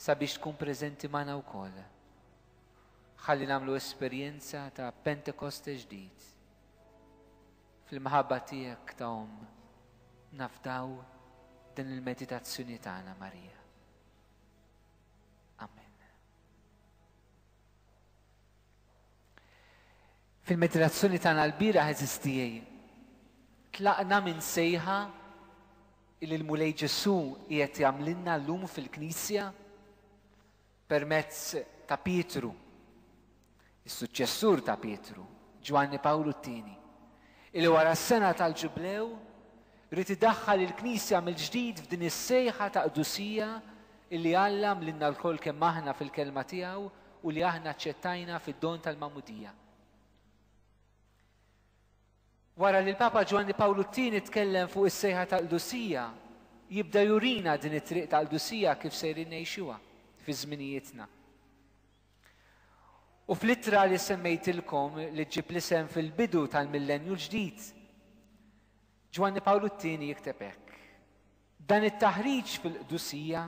sabiex tkun preżenti magħna wkoll. Ħalli nagħmlu esperjenza ta' Pentekoste ġdid. Fil-mħabba tiegħek ta' Omm nafdaw din il-meditazzjoni tagħna Marija. Fil-meditazzjoni tagħna l-bira ħeżistijej, tlaqna minn sejħa li l-Mulej Ġesù qiegħed jagħmlilna llum fil-Knisja permezz ta' Pietru, is-suċċessur ta' Pietru, Ġwanni Pawlu t-Tieni, illi wara s-sena tal-Ġublew rid idaħħal il-Knisja mill-ġdid f'din is-sejħa ta' qdusija illi Alla għamlilna lkoll kemm aħna fil-Kelma tiegħu u li aħna aċċettajna fid-don tal-Magħmudija. Wara li l-Papa Ġwanni Pawlu t-Tieni tkellem fuq is-sejħa tal-qdusija, jibda jurina din it-triq tal-qdusija kif sejrin ngħixuha fi żminijietna. U fl-ittra li semmejtilkom li ġġib l-isem fil-bidu tal-Millennju l-Ġdid, Ġwanni Pawlu t-Tieni jikteb hekk. Dan it-taħriġ fil-qdusija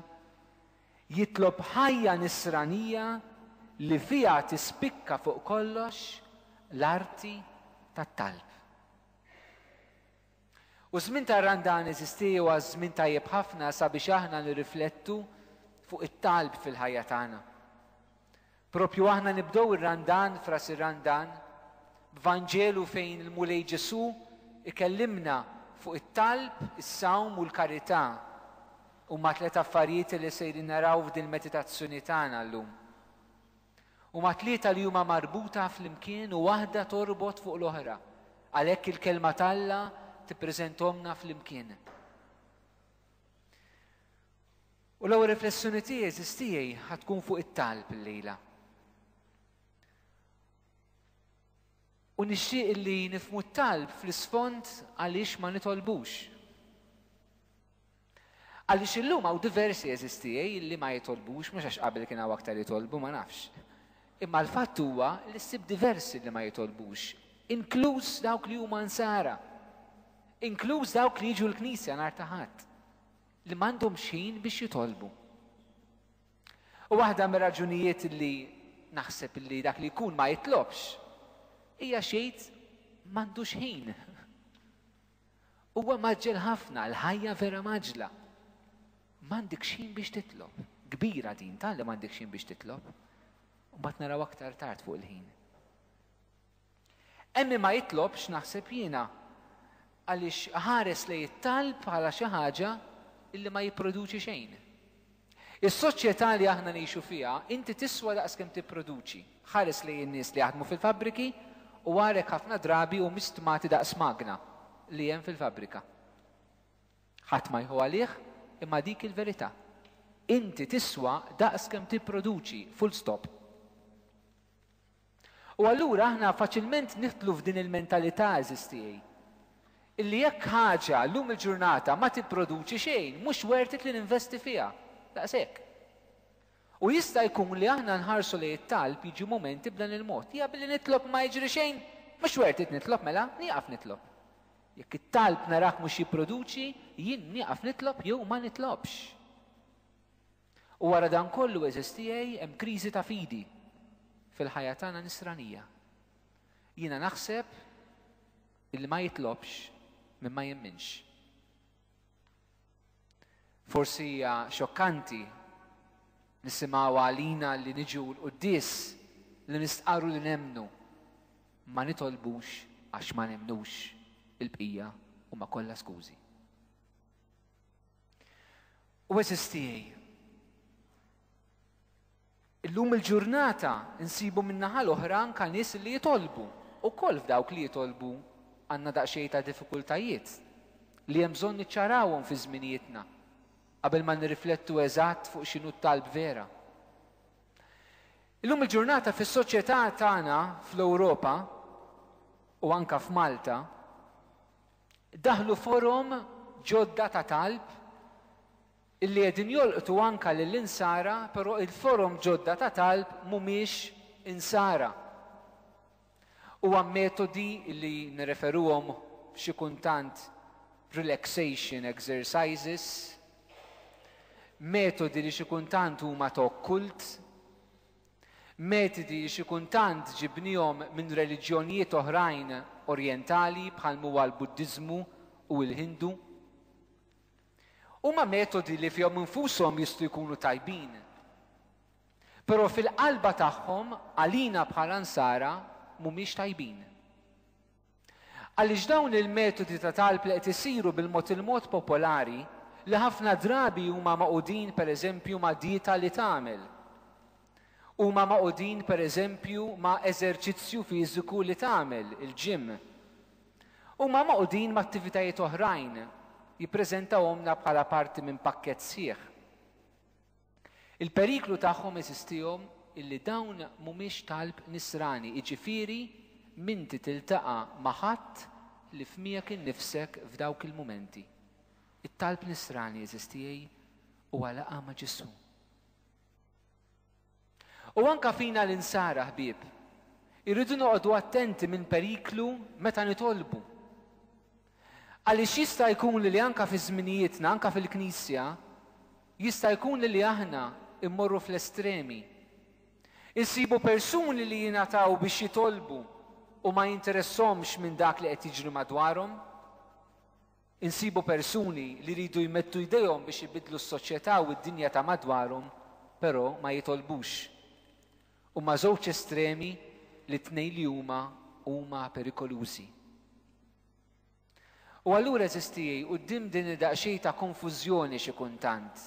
jitlob ħajja nisranija li fiha tispikka fuq kollox l-arti tat-talb. U ż-żmien tar-Randan eżisti huwa żmien tajjeb ħafna sabiex aħna nirriflettu fuq it-talb fil-ħajja tagħna. Proprju aħna nibdew ir-Randan f'ras ir-Randan b'Vanġelu fejn il-Mulej Ġesù ikellimna fuq it-talb, is-sawm u l-karità. Huma tliet affarijiet li sejrin naraw f'dil-meditazzjoni tagħna llum. Huma tlieta li huma marbuta flimkien u waħda torbot fuq l-oħra, għalhekk il-Kelma t'Alla tippreżenthomna flimkien. U l-ewwel riflessjoni tiegħi eżiż tiegħi ħa tkun fuq it-talb illejla. U nixtieq li nifmu t-talb fl-isfond għaliex ma nitolbux. Għaliex illum hawn diversi eżiż tiegħi li ma jitolbux, mhux għax qabel kien hawn aktar jitolbu ma nafx. Imma l-fatt huwa li ssib diversi li ma jitolbux, inkluż dawk li huma nsara, inkluż dawk li jiġu l-Knisja nhar ta' Ħadd. li m'għandhomx ħin biex jitolbu. U waħda mir-raġunijiet li naħseb li dak li jkun ma jitlobx hija xejt m'għandux ħin. Huwa maġġel ħafna, l-ħajja vera maġla. M'għandek xejn biex titlob. Kbira din tal li m'għandek xejn biex titlob. Mbagħad naraw aktar tard fuq il-ħin. Emmi ma jitlobx, naħseb jiena, għaliex iħares lejn it-talb bħala xi ħaġa li ma jipproduċi xejn. Is-soċjetà li aħna ngħixu fiha, inti tiswa daqs kemm tipproduċi. Ħares lejn in-nies li jaħdmu fil-fabbriki u ara jekk ħafna drabi humiex stmati daqs magna li hemm fil-fabbrika. Ħadd ma jħu għalih, imma dik hi l-verità. Inti tiswa daqs kemm tipproduċi, full stop. U allura aħna faċilment nidħlu f'din il-mentalità, għeżież tiegħi, illi jekk ħaġa llum il-ġurnata ma tipproduċi xejn, mhux worth it li ninvesti fiha. Daqshekk. U jista' jkun li aħna nħarsu lejn it-talb jiġu mumenti b'dan il-mod. Hija billi nitlob ma jiġri xejn, mhux worth it nitlob mela, nieqaf nitlob. Jekk it-talb narah mhux jipproduċi, jien nieqaf nitlob jew ma nitlobx. U wara dan kollu, għeżież tiegħi, hemm kriżi ta' fidi fil-ħajja tagħna Nisranija. Jiena naħseb li ma jitlobx minn ma jemminx. Forsi hija xokkanti nisimgħu għalina li niġu l-quddies li nistqarru li nemnu ma nitolbux għax ma nemnux il-bqija u ma kollha skużi. U eżis tiegħi. Illum il-ġurnata nsibu min-naħa l-oħra anka nies li jitolbu. Ukoll f'dawk li jitolbu għandna daqsxejn ta' diffikultajiet li hemm bżonn niċċarawhom fi żminijietna qabel ma nirriflettu eżatt fuq x'inhu t-talb vera. Illum il-ġurnata fis-soċjetà tagħna fl-Ewropa u anka f'Malta, Daħlu forom ġodda ta' talb illi qegħdin jolqtu anke lill-Insara però il-forom ġodda ta' talb mhumiex Insara. Huwa metodi illi nirreferuhom xi kuntant relaxation exercises, metodi li xi kuntant huma ta' okkult, Metodi li xi kuntant ġibniehom minn reliġjonijiet oħrajn Orjentali bħal m'huwa l-Buddiżmu u l-Hindu. Huma metodi li fihom infushom jistgħu jkunu tajbin. Però fil-qalba tagħhom għalina bħala Nsara mhumiex tajbin. Għaliex dawn il-metodi ta' talb li qed isiru bil-mod il-mod popolari, li ħafna drabi huma magħqudin pereżempju ma' dieta li tagħmel, huma magħqudin pereżempju ma' eżerċizzju fiżiku li tagħmel, il-gym, huma magħqudin ma' attivitajiet oħrajn, jippreżentawhomlna bħala parti minn pakkett sħiħ. Il-periklu tagħhom jeżistihom illi dawn mhumiex talb nisrani, jiġifieri m'inti tiltaqa' ma' ħadd li f'miegħek innifsek f'dawk il-mumenti. It-talb nisrani jeżistiehi huwa laqgħa ma' Ġesù. U anke fina l-insara, ħbieb, irridu noqogħdu attenti minn periklu meta nitolbu. Għaliex jista' jkun li anke fi żminijietna, anke fil-Knisja, jista' jkun li aħna mmorru fl-estremi. Insibu persuni li jingħataw biex jitolbu u ma jinteressahomx minn dak li qed jiġri madwarhom. Insibu persuni li jridu jmettu jdejhom biex ibiddlu s-soċjetà u d-dinja ta' madwarhom, però ma jitolbux. Huma żewġ estremi li t-tnejn li huma huma perikolużi. U allura għeżież tiegħi, quddiem din id-daqsxejn ta' konfużjoni xi kuntant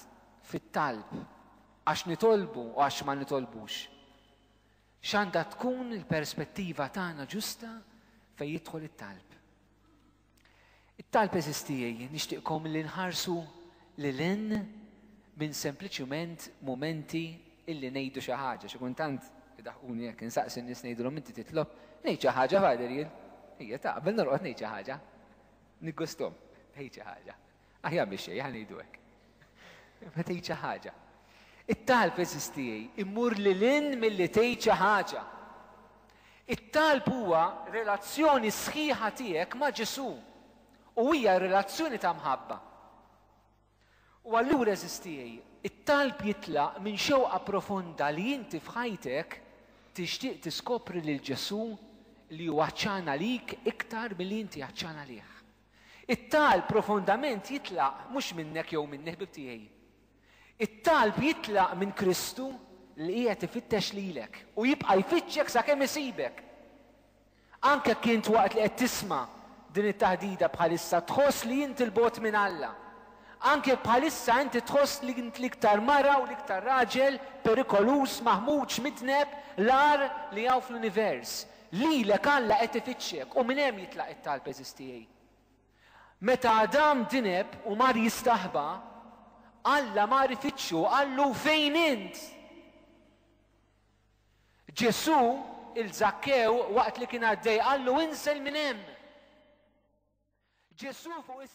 fit-talb, għax nitolbu u għax ma nitolbux, x'għandha tkun il-perspettiva tagħna ġusta fejn jidħol it-talb? It-talb għeżież tiegħi nixtieqkom li nħarsu lil hinn minn sempliċement mumenti illi ngħidu xi ħaġa. Xi kuntant idaħquni hekk, insaqsi n-nies ngħidilhom inti titlob, ngħid xi ħaġa Father jien. Ejja ta' qabel norqod ngħid xi ħaġa. Niggustom, ngħid xi ħaġa. Aħjar biex xejn ngħidu hekk. Ma tgħid xi ħaġa. It-talb eżistijej, immur li lin milli tgħid xi ħaġa. It-talb huwa relazzjoni sħiħa tiegħek ma' Ġesu. u hija relazzjoni ta' mħabba. U allura għeżież tiegħi, it-talb jitlaq minn xewqa profonda li inti f'ħajtek tixtieq tiskopri lil Ġesù li hu għatxan għalik iktar milli inti għatxan għalih. It-talb profondament jitlaq mhux minnek jew minni ħbieb tiegħi. It-talb jitlaq minn Kristu li qiegħed ifittex lilek u jibqa' jfittxek sakemm isibek. Anke jekk int waqt li qed tisma' din it-taħdida bħalissa tħoss li int 'il bogħod minn Alla, anke jekk bħalissa inti tħoss li int l-iktar mara u l-iktar raġel perikoluż, maħmuġ, midneb, l-agħar li hawn fl-univers, lilek Alla qed ifittxek u minn hemm jitlaq it-talb, għeżież tiegħi. Meta Adam dineb u mar jistaħba, Alla mar ifittxu u qallu, Fejn int? Ġesù 'il Żakkew waqt li kien għaddej qallu, Insel minn hemm! Ġesù fuq is.